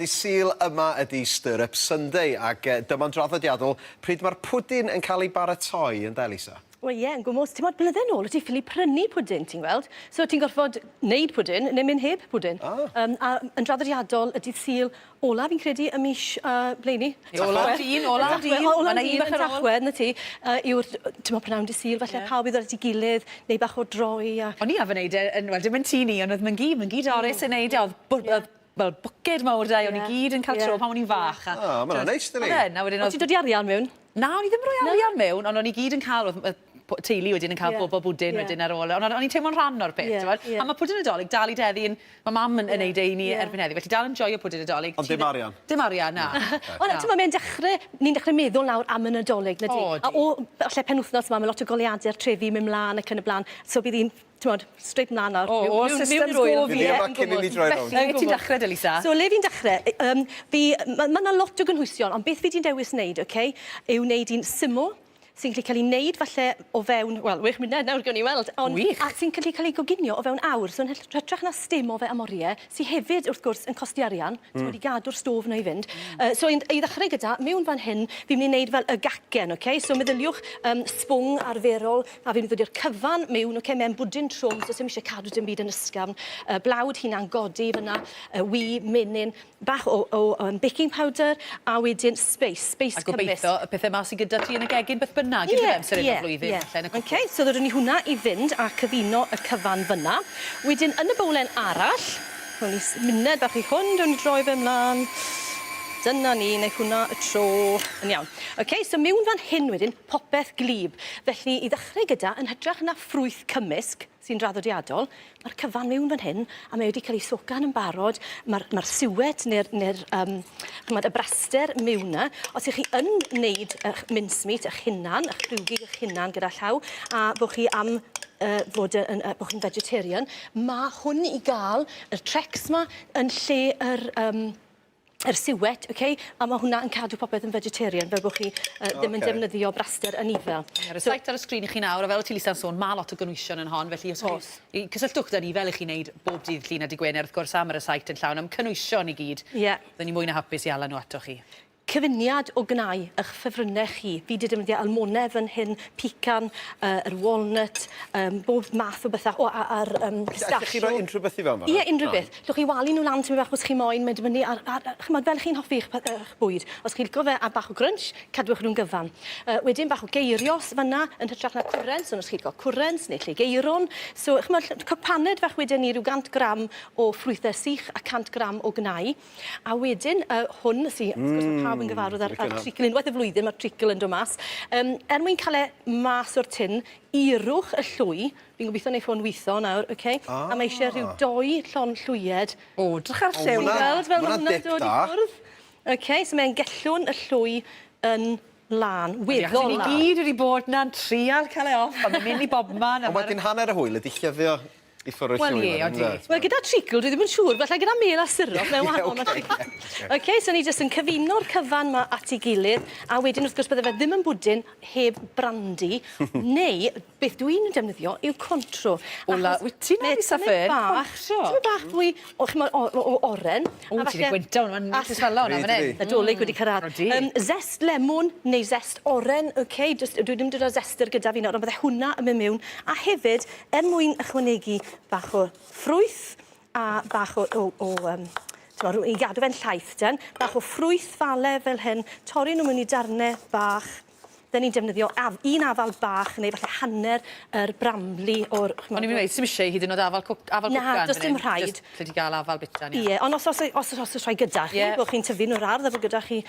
Dydd Sul yma ydi Stir Up Sunday ac dyma'n draddodiadol pryd mae'r pwdin yn cael ei baratoi, ynde Lisa? Wel ie, yn gwmws. Timod, blydde nôl o' ti'n ffili prynu pwdin, ti'n gweld? So o' ti'n gorfod neud pwdin neu mynd heb pwdin. O! Yym a yn draddodiadol y dydd Sul ola fi'n credu y mis yy blaenu. Tachwedd. Ola am dîn, ola am dîn. Ola am dîn yn Tachwedd, 'na ti. Yy yw'r t- yy t'mod prynawn dydd Sul falle pawb i ddod at 'i gilydd, neu bach o droi a... O'n i arfer neud e yn wel dim yn tŷ ni ond o'dd Myn-gu, Myn-gu Doris yn neud e o'dd bw- yy fel bwced mawr 'da, o'n i gyd yn ca'l tro pan o'n i'n fach a... O ma' wnna'n neis dydi? Odd e'n a wedyn odd... O' ti'n dod i arian mewn? Na o'n i ddim yn roi arian mewn ond o'n i gyd yn ca'l odd yy po- teulu wedyn yn ca'l bobol bwdin wedyn ar ôl o- on' o'n i'n teimlo'n rhan o'r peth t'mod? A ma' pwdin y 'Dolig dal i deddi yn ma' mam yn yn neud e i ni erbyn heddi felly dal yn joio pwdin y 'Dolig. Ond dim arian? Dim arian na. Wel na t'mo' mae'n dechre ni'n dechre meddwl nawr am y Nadolig dydi? O ydi. A o falle penwthnos 'ma ma' lot o goleuade'r trefi myn' mlan ac yn y bla'n so bydd 'i'n t'mod, straight mlan nawr. O, o'r system go fi ddim yn gwbod. Felly, lle ti'n dechre de Lisa? So, le fi'n dechre, yy yym, fi, ma' ma' 'na lot o gynhwysion, ond beth fi 'di dewis neud, oce, yw neud un syml, sy'n gallu ca'l 'i neud falle o fewn, wel, wech munud nawr, gewn ni weld, ond... Wych! ...a sy'n gallu ca'l 'i goginio o fewn awr, so yn hyll- hytrach na sdim o fe am orie, sy hefyd wrth gwrs yn costi arian, t'mod i gadw'r stôf 'na i fynd. Yy so i i ddechrau gyda, mewn fan hyn, fi'n mynd i neud fel y gacen, oce? So meddyliwch yym sbwng arferol, a fi'n mynd i ddod i'r cyfan mewn, oce, mewn bwdin trwm, so sim isie cadw dim byd yn ysgafn. Y blawd hunan godi fyna, y wy, menyn, bach o o yym baking powder, a wedyn speis, speis cymysg. A gobeitho y pethe 'ma sy gyda ti yn y gegin beth bynnag, unrhyw amser hyn o'r flwyddyn, falle yn y cwpwrdd. Oce, so ddodwn ni hwnna i fynd a cyfuno y cyfan fyna. Wedyn yn y bowlen arall, rown ni symuned bach i hwn, rown ni droi fe mlan. Dyna ni, neu hwnna y tro. Yn iawn. OK, so miwn fan hyn wedyn, popeth gwlyb. Felly, i ddechrau gyda, yn hytrach na ffrwyth cymysg, sy'n draddodiadol, mae'r cyfan miwn fan hyn, a mae wedi cael ei socan yn barod, mae'r mae'r suet neu'r neu'r yym ch'mod y braster miwn 'na. Os y'ch chi yn neud y'ch mincemeat y'ch hunan, y'ch rhiwgi y'ch hunan gyda llaw, a bo' chi am yy fod yy yn yy bo' chi'n vegetarian ma' hwn i ga'l yr Trex 'ma yn lle yr yym yr suet oce a ma' hwnna yn cadw popeth yn vegetarian fel bo' chi yy... Oce. ...ddim yn defnyddio braster anifail. Ie roi site ar y sgrin i chi nawr a fel o' ti Lisa'n sôn ma' lot o gynwysion yn hon felly os... O's. ...chi cysylltwch 'da ni fel 'ych chi'n neud bob dydd Llun a dy' Gwener wrth gwrs a ma' 'r y site yn llawn am cynwysion i gyd. Ie. Fydden ni mwy na hapus i 'ala nw atoch chi. Cyfuniad o gnau ych ffefrynnau chi. Fi 'di defnyddio almone fan hyn, pican, yy yr walnut, yym bob math o bethe o a- a'r yym pistachio. Allech chi roi unrhyw beth i fewn fan 'na? Ie, unrhyw beth. Allwch chi walu nhw lan tipyn bach os chi moyn, mae'n dibynnu ar ar yy ch'mod fel chi'n hoffi eich pe- eich bwyd. Os chi'n lico fe a bach o grunch, cadwch nhw'n gyfan. Yy wedyn bach o geirios fan 'na yn hytrach na cwrent, so os chi lico cwrent neu lleugeirwrn. So ch'mod ll- cwpaned fach weden i, ryw 100 gram o ffrwythe sych a 100 gram o gnau. A wedyn, yy, hwn sy... Mm. ...wrth gwrs ma' pawb yn gyfarwydd â'r â'r treacle. Unwaith y flwyddyn ma'r treacle yn do' mas. Yym, er mwyn ca'l e mas o'r tin, ierwch y llwy. Fi'n gobitho neith hwn witho nawr, oce? O! A mae isie rhyw dou llond llwyed. O, 'drych ar lliw 'na. O, ma' 'na... Ti'n gweld fel ma' hwnna'n dod i ffwrdd? Ma' hwnna'n dip da. Oce, so mae e'n gellwng y llwy yn lân, weddol lân. Ni gyd wedi bod 'na'n trial ca'l e off a ma' myn' i bobman a ma'... Ond wedyn hanner y hwyl ydi llywio. I ffwrw llwyfan, ynde? Wel, ie, odi. Wel, gyda treacle, dwi ddim yn siŵr, falle gyda mêl a syrup, mae'n wahanol na treacle. OK, so ni jyst yn cyfuno'r cyfan 'ma at ei gilydd, a wedyn, wrth gwrs, bydde fe ddim yn bwdin heb brandi, neu, beth dw i'n defnyddio yw Contro. O la, wyt ti'n hapus â fe? Contro? Tipyn bach fwy o, ch'mod, o- o- o- oren, a falle... O, ti 'di gwyntog hwnna, ma'n neis i swallow hwnna fan 'yn. Ydi. Nadolig wedi cyrradd. Odi. Yym, zest lemon neu zest oren, OK, jyst, dwi ddim 'di dod â zester gyda fi nawr, ond bydde hwnna yn myn' miwn, a hefyd, Er mwyn ychwanegu bach o ffrwyth a bach o o o yym t'mo' rw- i gadw fe'n llaith ten, bach o ffrwyth fale fel hyn, torri nw mewn i darne bach. 'Dyn ni'n defnyddio af- un afal bach neu falle hanner yr bramley o'r ch'mo'... O'n i myn' i weud sdim isie i hyd yn o'd afal cwc- afal cwcan fan 'yn. Na, do's dim rhaid. Jyst allet ti ga'l afal bita 'ny. Ie, on' os o's e os o's o's o's rhai gyda chi... Ie. ...bo' chi'n tyfu yn yr ardd a bo' gyda chi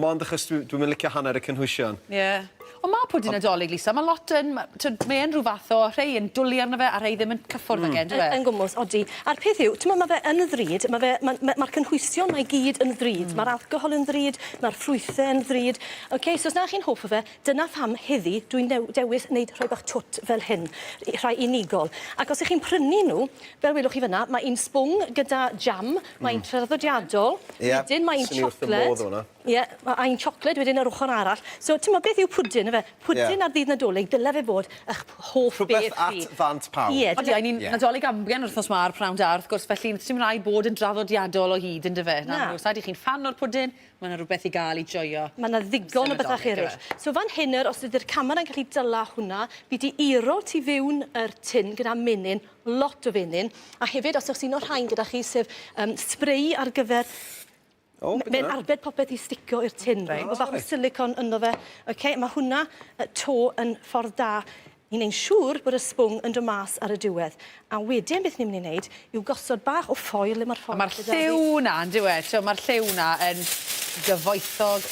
Mond achos dwi dwi'm yn licio hanner y cynhwysion. Ie. Ond ma' pwdin Ond... Nadolig, Lisa, ma' lot yn ma' t'wod mae e'n rhyw fath o rhei yn dwli arno fe a rhei ddim yn cyffwrdd mm. ag e on'd yw e? Yn gwmws, odi. A'r peth yw, t'mo' ma' fe yn ddrud, ma' fe ma'n ma' ma'r cynhwysion 'ma i gyd yn ddrud. Mm. Ma'r alcohol yn ddrud, ma'r ffrwythe yn ddrud. Oce, so os na chi'n hoff o fe, Dyna pham heddi dwi'n new- dewis neud rhoi bach twt fel hyn, i- rhai unigol. Ac os 'ych chi'n prynu nhw, fel welwch chi fynna, mae un sbwng gyda jam, mae un traddodiadol... Ie, wedyn mae un swn i wrth fy modd efo 'na. chocolate, ie, ma' a un chocolate wedyn ar ochor arall. So, t'mod beth yw pwdin, yfe? Ie. Pwdin ar ddydd Nadolig, dyle fe fod 'ych p- hoff beth chi. Rhwbeth at ddant pawb. Ie, dyna... Odi, a ni'n Nadolig amgen yr wthnos 'ma ar P'nawn Da, wrth gwrs, felly sdim raid bod yn draddodiadol o hyd, yndyfe? Na. Nag oes, rhaid i chi'n ffan o'r pwdin, Mae 'na rhywbeth i gael i joio. Mae 'na ddigon o bethau eraill. So fan hyn nawr, os ydy'r camera yn gallu dala hwnna, fi 'di iro tu fewn yr tin gyda menyn, lot o fenyn, a hefyd os oes un o'r rhain gyda chi, sef yym spray ar gyfer... O, be' 'di hwnna? ...mae'n arbed popeth i sticio i'r tin. Reit. Ma' bach o silicone ynddo fe. Oce, ma' hwnna yy 'to yn ffordd da Ni'n neud siŵr bod y sbwng yn dod mas ar y diwedd. A wedyn beth ni'n mynd i neud yw gosod bach o ffoil le ma'r ffoil... A ma'r lliw 'na yndyw e? T'mo' ma'r lliw 'na yn gyfoethog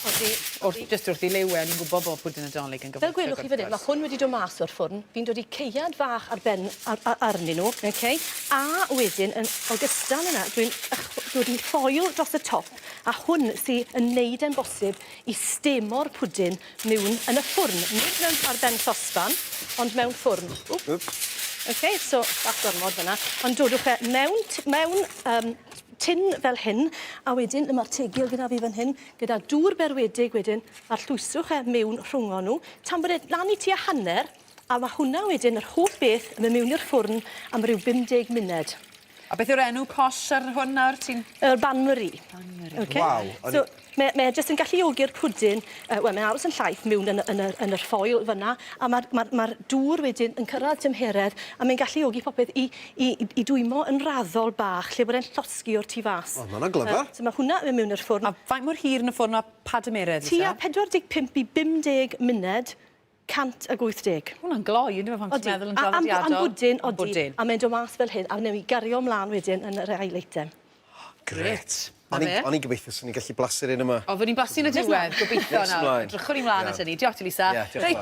oddi wrth jyst wrth 'i liw e, a ni'n gwbo bo' pwdin Nadolig yn gyfoethog wrth gwrs. Fel gwelwch chi fan 'yn ma' hwn wedi do' mas o'r ffwrn, fi'n dod i caead fach ar ben ar a- arnyn nw, oce? A wedyn yn ogystal â 'na dwi'n ychw- dod i ffoil dros y top, a hwn sy yn neud e'n bosib i stemo'r pwdin Mewn yn y ffwrn, nid mewn ar ben sosban, ond mewn ffwrn. Wp. Wp. Ok, so bach gormod fyna. Ond dodwch e mewn mewn um, tin fel hyn, a wedyn le mae'r tegil gyda fi fan hyn, gyda dŵr berwedig wedyn, a'r llwyswch e mewn rhwngho nhw, tan bod e lan i tua hanner, a mae hwnna wedyn, yr holl beth, yn mynd mewn i'r ffwrn am ryw 50 munud. A beth yw'r enw posh ar hwn nawr ti'n... Yr bain marie. Bain marie. Okay. Waw. So mae mae e jyst yn galluogi'r pwdin yy wel mae'n aros yn llaith miwn yn y yn yr yn yr ffoil fyn 'na a ma'r ma'r ma'r dŵr wedyn yn cyrradd tymheredd a mae'n galluogi popeth i i i i dwymo yn raddol bach lle bod e'n llosgi o'r tu fas. O ma' wnna'n glyfar. Yy so ma' hwnna yn myn' miwn i'r ffwrn. A faint mor hir yn y ffwrn ma' pa dymeredd fyse? Tua 45 i 50 munud 180. Ma' hwnna'n gloi yndyw e pan ti'n meddwl yn draddodiadol? Odi, am bwdin, odi. A mae'n dod mas fel hyn a newn ni gario mlan wedyn yn yr ail eitem. Grêt. O'n i'n o'n i'n gobeithio swn i'n gallu blasu'r un yma. O, fyddwn ni'n blasu yn y diwedd, gobeithio nawr. Edrychwn i mlaen at hynny. Diolch ti Lisa. Reit.